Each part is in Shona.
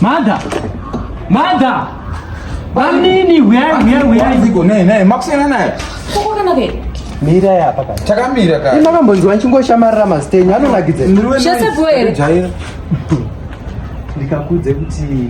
Mada! Mada! Bamnini, where, where, where is it? Naye, naye, makusiyana naye. Kukuona nake. Mira ya paka. Chakamira ka. Ima kambonzwa nchingoshamaira mastenyu anonakidza. Shese bwere. Ndikakudze kuti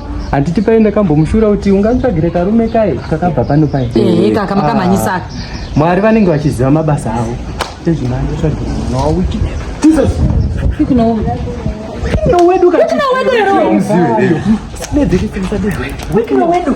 handiti paye ndakambomushura kuti ungatsvagire karume kaye kakabva pano paye ehe kaka makamhanyisa ah, mwari vanenge vachiziva mabasa avo tezvimanje tsvagire mwana wawiki jesus wedu wedu wedu wedu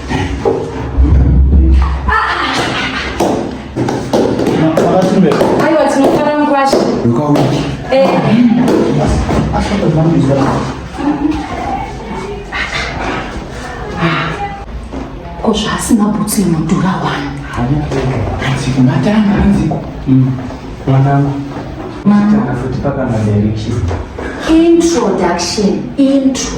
ko zvaasina bhutsu inodhura wani hanziko matanga hanziko mwanangu matanga futi pakana direction introduction intro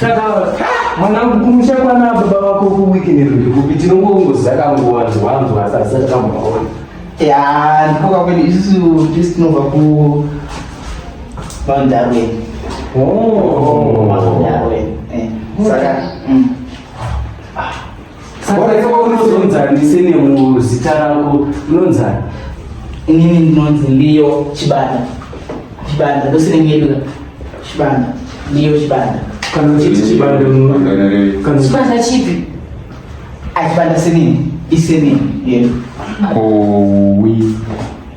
Shakara, mwanangu kumusha kwana baba vako kuwikini riri kupi tinongongoziva kanguwanzwanzwa asi asati kambaona ya ndikoka kwedi isusu tisi tinobva ku vandarweni oh. vandarweni eh, saka mm. ah. Wakaitwa unozonzani sene muzita rako unonzani? Inini ndinonzi Leo Chibanda. Chibanda ndosine nyeduka. Chibanda. Leo Chibanda. Kana uchiti Chibanda kana Chibanda chipi? Achibanda ah, senini? Isenini. Yes. Kowi.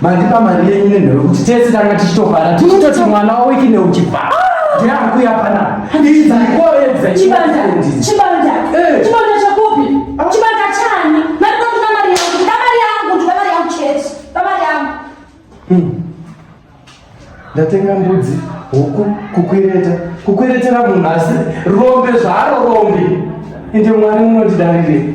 Mandipa mari yenyu nenhoro kuti tese tanga tichitofara tichitoti mwana wawiki neuchibva. Ndiani kuya pana? Ndichi dzikoredza. Chibanda. Chibanda. Eh. Chibanda chakupi? Ah. Chibanda chani? Mari kwa kuna mari yangu. Kuna mari yangu. Kuna mari yangu chete. Kuna mari yangu. Hmm. Ndatenga mbudzi, huku, kukwereta. Kukweretera munhu asi rombe zvaro rombe. Ende mwari munondidarire.